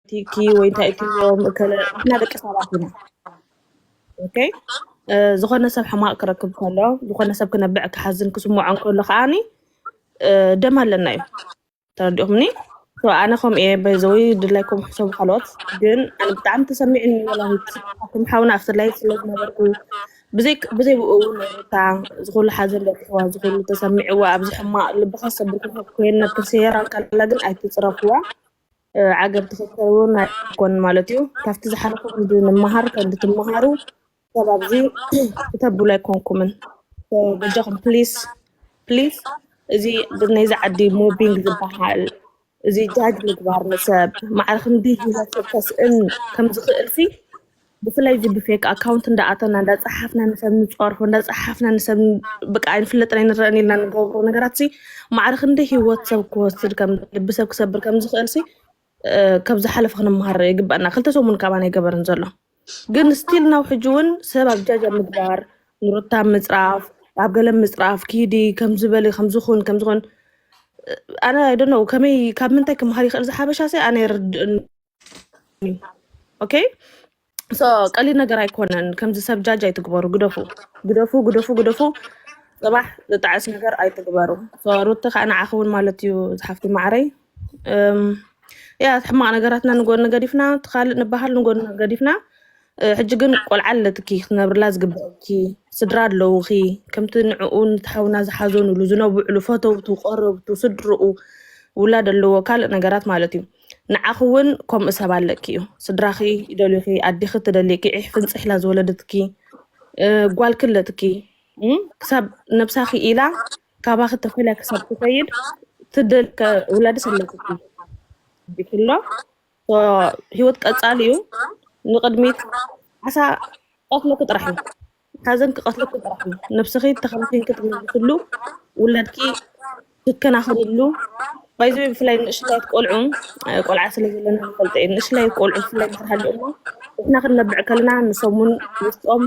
ቲኪ ወይ እንታይ እትብሎም እከለ ንሕና ደቂ ሰባት ኢና ኦኬ እ፣ ዝኾነ ሰብ ሕማቅ ክረክብ ከሎ ዝኾነ ሰብ ክነብዕ ክሓዝን ክስምዖ ከሎ ከዓኒ እ፣ ደም ኣለና እዩ ተረዲኹምኒ ሶ ኣነ ከምኡ እየ በዘዊ ድላይኩም ሕሰቡ ካልኦት ግን ኣነ ብጣዕሚ ተሰሚዕኒ ወላሂ ስኩም ሓውና ኣብቲ ላይ ስለ ዝነበርኩ ብዘይ ብዘይ ብኡ እውን ነታ ዝኩሉ ሓዘን በኪዋ ዝኩሉ ተሰሚዕዋ ኣብዚ ሕማቅ ልቢ ከሰብር ኮይነ ክሰየራ ከላ ግን ኣይትፅረፍዋ ዓገብ ተፈተውን ኣይኮን ማለት እዩ ካብቲ ዝሓለፈ ክንዲ ንመሃር ከንዲ ትመሃሩ ሰብ ኣብዚ ክተብሉ ኣይኮንኩምን በጃኹም ፕሊስ ፕሊስ እዚ ናይዚ ዓዲ ሞቢንግ ዝበሃል እዚ ጃጅ ምግባር ንሰብ ማዕረ ክንዲ ሂወት ሰብ ከስእን ከም ዝኽእል ሲ ብፍላይ እዚ ብፌክ ኣካውንት እንዳኣተና እንዳፀሓፍና ንሰብ ንፀርፎ እንዳፀሓፍና ንሰብ ብቃ ኣይንፍለጥን ኣይንረአን ኢልና ንገብሮ ነገራት ሲ ማዕረ ክንደይ ሂወት ሰብ ክወስድ ከም ልቢ ሰብ ክሰብር ከም ዝኽእል ሲ ካብ ዝሓለፈ ክንመሃር ይግበአና ክልተ ሰሙን ካብ ኣነ ይገበርን ዘሎ ግን ስቲል ናው ሕጂ እውን ሰብ ኣብ ጃጃ ምግባር ንሩታ ምፅራፍ ኣብ ገለ ምፅራፍ ኪዲ ከም ዝበሊ ከም ዝኹን ከም ዝኹን ኣነ ኣይደነው ከመይ ካብ ምንታይ ክመሃር ይኽእል ዝሓበሻ ሲ ኣነ ይርድእን ኦኬ ሶ ቀሊል ነገር ኣይኮነን። ከምዚ ሰብ ጃጅ ኣይትግበሩ። ግደፉ ግደፉ ግደፉ ግደፉ። ፅባሕ ዝጣዕስ ነገር ኣይትግበሩ። ሶ ሩቲ ከዓ ንዓኺ እውን ማለት እዩ ዝሓፍቲ ማዕረይ እም፣ ያ ሕማቅ ነገራትና ንጎኒ ገዲፍና እቲ ካልእ ንበሃል ንጎኒ ገዲፍና እ፣ ሕጂ ግን ቆልዓ ኣለትኪ ክትነብርላ ዝግብአኪ ስድራ ኣለውኺ ከምቲ ንዕኡ ንትሓውና ዝሓዘኑሉ ዝነብዕሉ ፈተውቱ ቀረብቱ ስድርኡ ውላድ ኣለዎ ካልእ ነገራት ማለት እዩ ንዓኺ እውን ከምኡ ሰብ ኣለኪ እዩ ስድራኺ ይደልዩኺ ኣዲኺ ትደልይኪ ዒሕ ፍንፅሕ ኢላ ዝወለደትኪ እ፣ ጓል ክለትኪ እ፣ ክሳብ ነብሳኺ ኢላ ካባኺ ተፈልያ ክሳብ ትኸይድ ትደል ከ- ውላድስ ኣለክኪ ቢክሎ ሂወት ቀጻሊ እዩ ንቅድሚት ዓሳ ቀትለኪ ጥራሕ እዩ ሓዘን ክቀትለኪ ጥራሕ እዩ ነብስኪ ተከናኪንኪ ትምልስሉ ውላድኪ ትከናከንሉ ባይዘወይ ብፍላይ ንእሽተያት ቆልዑ ቆልዓ ስለ ዘለና ንፈልጦ እዩ ንእሽተያት ቆልዑ ብፍላይ እንድሕር ሃሊኦማ ንሕና ክንነብዕ ከለና ንሶም እውን ውስጦም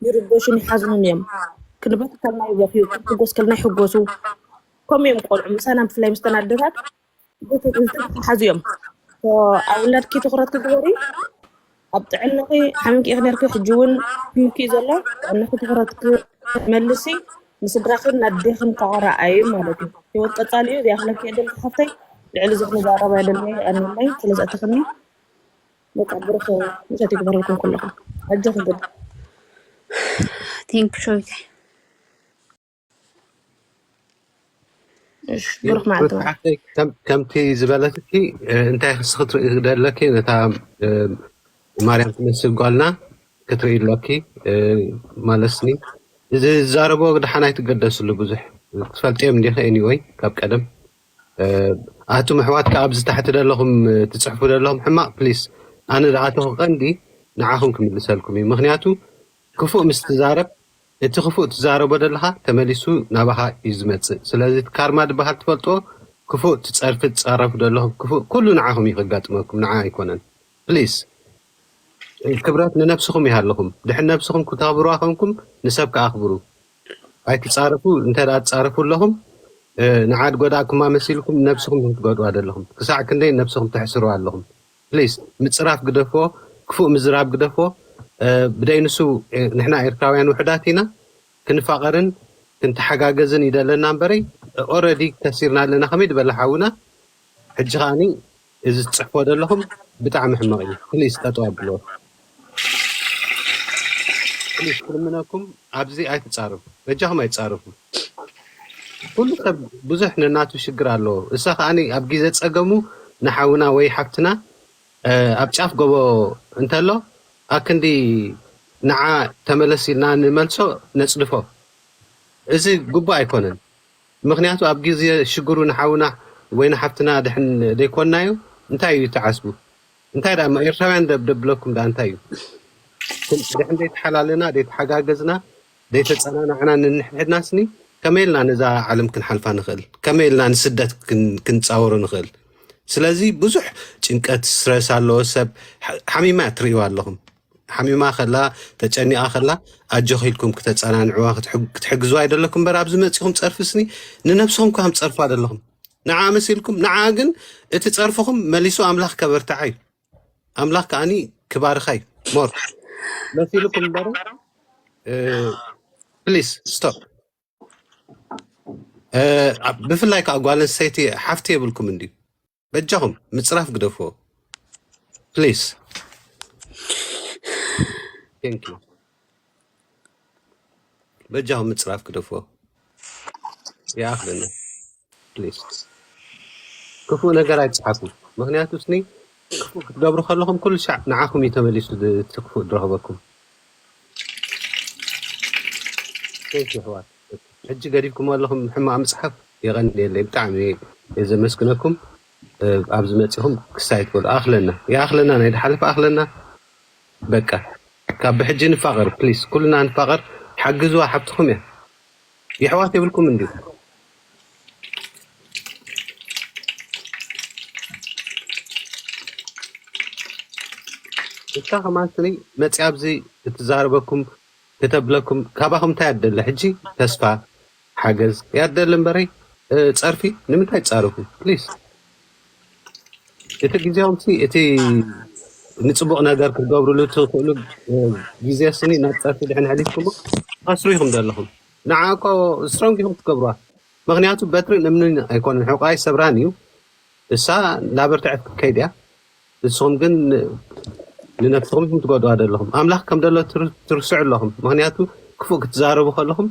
ይርበሹን ይሓዝኑን እዮም ክንበክ ከልና ይበክዩ ክንሕጎስ ከልና ይሕጎሱ ከምኡ እዮም ቆልዑ ምሳና ብፍላይ ምስተን ኣደታት ሓዙ እዮም ኣብ ውላድኪ ትኩረት ክትገበሪ ኣብ ጥዕናኺ ሓሚምኪ ኢኺ ነርኪ ሕጂ እውን ሕምኪ እዩ ዘሎ ጥዕናኺ ትኩረት ክትመልሲ ንስድራኽን ናዴኽን ከዓ ረኣዩ ማለት እዩ ሂወት ቀፃሊ እዩ ዚኣኽለኪ የደል ሓፍተይ ልዕሊ እዚ ክንዛረባ የደልኒ ኣንለይ ስለዝኣተኽኒ በቃ ብሩኽ ምሸት ይግበረልኩም ኩልኹም ኣጆኺ ግን ቴንክ ሾይታይ እሺ ብሩክ መዓልቲ ሩት ሓፍተይ ከም- ከምቲ ዝበለትኪ እ፣ እንታይ ክስ ክትርኢ ደለኪ ነታ እ፣ ማርያም ትመስል ጓልና ክትርኢ ኣለኪ እ፣ ማለትኒ እዚ ዝዛረቦ ድሓን ኣይትገደስሉ ብዙሕ ትፈልጥዮም እንዲኺ ኤኒወይ ካብ ቀደም እ፣ ኣቱም ኣሕዋት ከዓ ኣብዚ ታሕቲ ደለኹም እ፣ ትፅሕፉ ደለኹም ሕማቕ ፕሊስ ኣነ ዝኣተኹ ቀንዲ ንዓኹም ክምልሰልኩም እዩ ምክንያቱ ክፉእ ምስ ትዛረብ እቲ ክፉእ ትዛረቦ ደለኻ ተመሊሱ ናባኻ እዩ ዝመጽእ ስለዚ እቲ ካርማ ድበሃል ትፈልጥዎ ክፉእ ትጸርፊ ትጻረፉ ደለኹም ክፉእ ኩሉ ንዓኹም እዩ ከጋጥመኩም ንዓ ኣይኮነን please ክብረት ንነብስኹም ይሃልኹም ድሕን ነብስኹም ክተኽብርዋ ኮንኩም ንሰብ ከኣ ኣኽብሩ ኣይትጻረፉ እንተ ትጻረፉ ኣለኹም ንዓ ድጎዳእኩማ መሲልኩም ነብስኹም ኢኹም ትጎድእዋ ደለኹም ክሳዕ ክንደይ ነብስኹም ተሕስርዋ ኣለኹም Please ምጽራፍ ግደፎ ክፉእ ምዝራብ ግደፎ ብደይ ንሱ ንሕና ኤርትራውያን ውሕዳት ኢና ክንፋቀርን ክንተሓጋገዝን እዩ ደለና እምበረይ Already ከሲርና ኣለና ከመይ ድበለ ሓውና ሕጂ ከኣ እዚ ትጽሕፎ ደለኹም ብጣዕሚ ሕማቅ እዩ Please ጠጠው ኣብልዎ። ፕሊስ ክልምነኩም ኣብዚ ኣይትጻረፉ በጃኹም ኣይትጻረፉ ኩሉ ሰብ ብዙሕ ነናቱ ሽግር ኣለዎ እሳ ከኣኒ ኣብ ግዜ ጸገሙ ንሓውና ወይ ሓፍትና እ፣ ኣብ ጫፍ ጎቦ እንተሎ ኣክንዲ ንዓ ተመለስ ኢልና ንመልሶ ነጽድፎ እዚ ግቡእ ኣይኮነን ምክንያቱ ኣብ ግዜ ሽግሩ ንሓውና ወይ ንሓፍትና ድሕን ደይኮንናዮ እንታይ እዩ ተዓስቡ እንታይ ድኣ እሞ ኤርትራውያን ደብ ደብለኩም ድኣ እንታይ እዩ ክም ድሕን ደይተሓላለና ደይተሓጋገዝና ደይተጸናናዕና ንንሕድሕድና ስኒ ከመይ ኢልና ነዛ ዓለም ክንሓልፋ ንኽእል ከመይ ኢልና ንስደት ክን ክንጻወሮ ንኽእል ስለዚ ብዙሕ ጭንቀት ስትረስ ኣለዎ ሰብ ሓ- ሓሚማ እያ ትርእይዋ ኣለኹም ሓሚማ ከላ ተጨኒቃ ከላ ኣጆኺ ኢልኩም ክተጸናንዕዋ ክትሕግ- ክትሕግዝዋ ኣይደለኩም እምበር ኣብዚ መጺኹም ጸርፍስኒ ንነብስኹም ከም ትጸርፉ ኣይደለኹም ንዓ መሲልኩም ንዓ ግን እቲ ጸርፍኹም መሊሱ ኣምላኽ ከበርትዓ እዩ ኣምላኽ ከዓኒ ክባርኻ እዩ ሞር መሲልኩም እምበር ፕሊስ ስቶፕ ብፍላይ ከዓ ጓል ኣንስተይቲ ሓፍቲ የብልኩም እንድዩ በጃኹም ምፅራፍ ግደፍዎ ፕሊስ ቴንክ ዩ በጃኹም ምፅራፍ ግደፍዎ ይኣኽለና ፕሊስ ክፉእ ነገር ኣይፅሓፉ ምክንያቱ ስኒ ክፉእ ክትገብሩ ከለኹም ኩሉ ሻዕ ንዓኹም እዩ ተመሊሱ ድ- እቲ ክፉእ ድረኽበኩም ቴንክ ዩ ኣሕዋት ሕጂ ገዲፍኩሞ ኣለኹም ሕማቅ ምጽሓፍ የቀንየለይ ብጣዕሚ እየ ዘመስግነኩም ኣብዚ መጺኹም ክስ ኣይትበሉ ኣኽለና ይኣኽለና ናይ ዝሓለፈ ኣኽለና በቃ ካብ ብሕጂ ንፋቀር ፕሊስ ኩልና ንፋቀር ሓግዝዋ ሓብትኹም እያ የሕዋት የብልኩም እንድዩ ንሳ ከማን ስኒ መጺኣ ኣብዚ እትዛረበኩም ክተብለኩም ካባኩም እንታይ እያ ትደሊ ሕጂ ተስፋ ሓገዝ እያ ትደሊ እምበሪ ጸርፊ ንምንታይ ትጻረፉ please እቲ ግዜኦምሲ እቲ ንጽቡቅ ነገር ክትገብርሉ ትክእሉ ግዜ ስኒ ናብ ጸርፊ ድሕን ሕሊፍኩሞ ትኸስሩ ኢኹም ዘለኹም ንዓ እኮ ስትሮንግ ኢኹም ክትገብርዋ ምክንያቱ በትርን እምንን ኣይኮነን ሕቆኣ ይሰብራን እዩ እሳ ላበርተዐት ክትከይድ እያ ንስኹም ግን ንነፍስኹም ኢኹም ትጎድኡዋ ዘለኹም። ኣምላኽ ከም ዘሎ ትርስዑ ኣለኹም፣ ምኽንያቱ ክፉእ ክትዛረቡ ከለኹም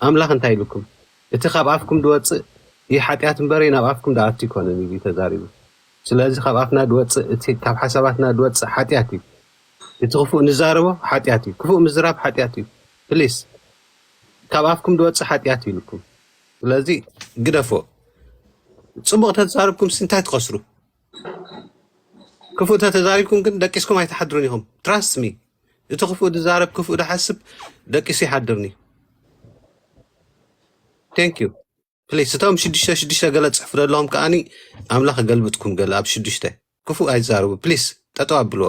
ኣምላኽ እንታይ ኢሉኩም? እቲ ካብ ኣፍኩም ዝወጽእ እዩ ሓጢኣት እምበረይ ናብ ኣፍኩም ዝኣቱ ኣይኮነን ኢሉ እዩ ተዛሪቡ። ስለዚ ካብ ኣፍና ዝወጽእ እቲ ካብ ሓሳባትና ዝወጽእ ሓጢኣት እዩ። እቲ ክፉእ ንዛረቦ ሓጢኣት እዩ። ክፉእ ምዝራብ ሓጢኣት እዩ። ፕሊስ ካብ ኣፍኩም ዝወጽእ ሓጢኣት እዩ ኢሉኩም። ስለዚ ግደፎ። ጽቡቕ ተዛርብኩም እንታይ ትኸስሩ? ክፉእ ተተዛሪብኩም ግን ደቂስኩም ኣይትሓድሩን ኢኹም ትራስት ሚ እቲ ክፉእ ዝዛረብ ክፉእ ዝሓስብ ደቂሱ ይሓድርን እዩ ቴንክ ዩ ፕሊስ እቶም ሽዱሽተ ሽዱሽተ ገለ ፅሑፍ ዘለዎም ከዓኒ ኣምላኽ ገልብጥኩም ገለ ኣብ ሽዱሽተ ክፉእ ኣይዛረቡ ፕሊስ ጠጠው ኣብልዎ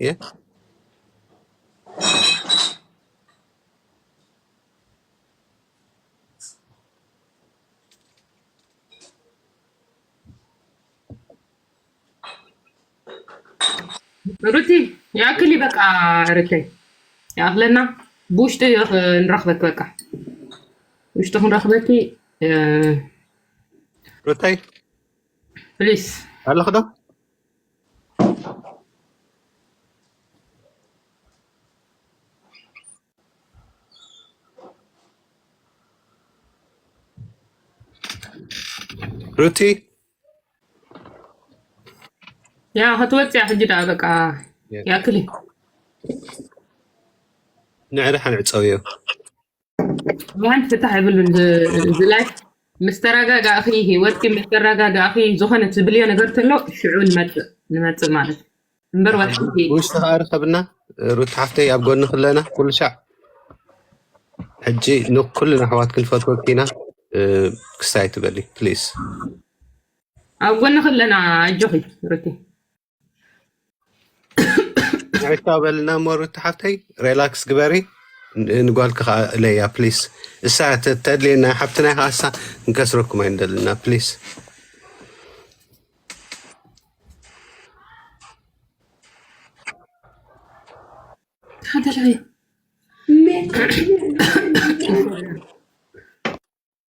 እየ ሩቲ ይኣክል እዩ በቃ ርተይ ይኣክለና ብውሽጢ ንረክበክ በቃ ውሽጢ ክንረክበኪ ሩተይ ፕሊስ ኣለክዶ ሩቲ ያ ክትወፅ እያ ሕጂ ደኣ በቃ ያክል እዩ ንዕሪ ሓንዕፀውዮ ማን ፍታሕ ይብሉን ዝላይ ምስ ተረጋጋእኺ ሂወትኪ ምስ ተረጋጋእኺ ዝኾነ ትብልዮ ነገር ተሎ ሽዑ ንመፅእ ንመፅእ ማለት እምበር ወጥኪ ውሽጢ ከዓ ርኸብና ሩት ሓፍተይ ኣብ ጎኒ ክለና ኩሉ ሻዕ ሕጂ ንኩልና ኣሕዋት ክንፈትወት ኢና እ፣ ክሳይ ትበሊ ፕሊዝ ኣብ ጎንኺ ኣለና ኣጆኺ ሩቲ ሪታ በልና እሞ ሩታ ሓፍተይ ሬላክስ ግበሪ ን- ንጓልኪ ከዓ እለያ ፕሊስ እሳ ተ- ተድልየና ሓብትና ከዓ እሳ ንከስረኩም ኣይንደልና ፕሊስ ሓደራይ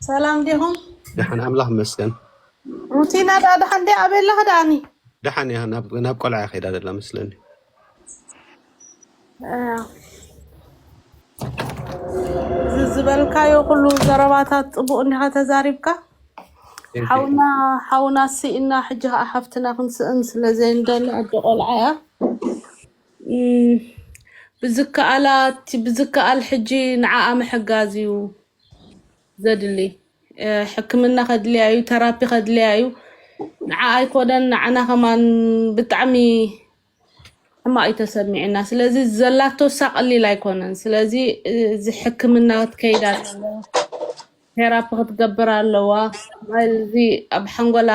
ሰላም ዲኹም? ደሓን ኣምላኽ ይመስገን። ሩቲና ደኣ ደሓን ድያ? ኣበይ ኣለኺ ደኣኒ? ደሓን እያ ናብ ናብ ቆልዓ እያ ከይዳ ዘላ መስለኒ። እ፣ እዚ ዝበልካዮ ኩሉ ዘረባታት ፅቡቅ እንዲኻ ተዛሪብካ ቴንክ ዩ ሓውና ሓውና ስኢና ሕጂ ከዓ ሓፍትና ክንስእን ስለ ዘይንደሊ ኣደ ቆልዓ እያ እም፣ ብዝከኣላ እቲ ብዝከኣል ሕጂ ንዓኣ ምሕጋዝ እዩ ዘድሊ ሕክምና ከድልያ እዩ ተራፒ ከድልያ እዩ ንዓ ኣይኮነን ንዓና ከማን ብጣዕሚ ሕማቅ እዩ ተሰሚዑና ስለዚ ዘላቶ እሳ ቀሊል ኣይኮነን ስለዚ እዚ ሕክምና ክትከይድ ኣለዎ ቴራፒ ክትገብር ኣለዋ እዚ ኣብ ሓንጎላ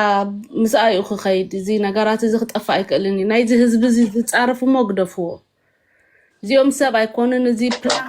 ምስኣ እዩ ክኸይድ እዚ ነገራት እዚ ክጠፍእ ኣይክእልን እዩ ናይዚ ህዝቢ እዚ ዝፃረፍ እሞ ግደፍዎ እዚኦም ሰብ ኣይኮኑን እዚ ፕላን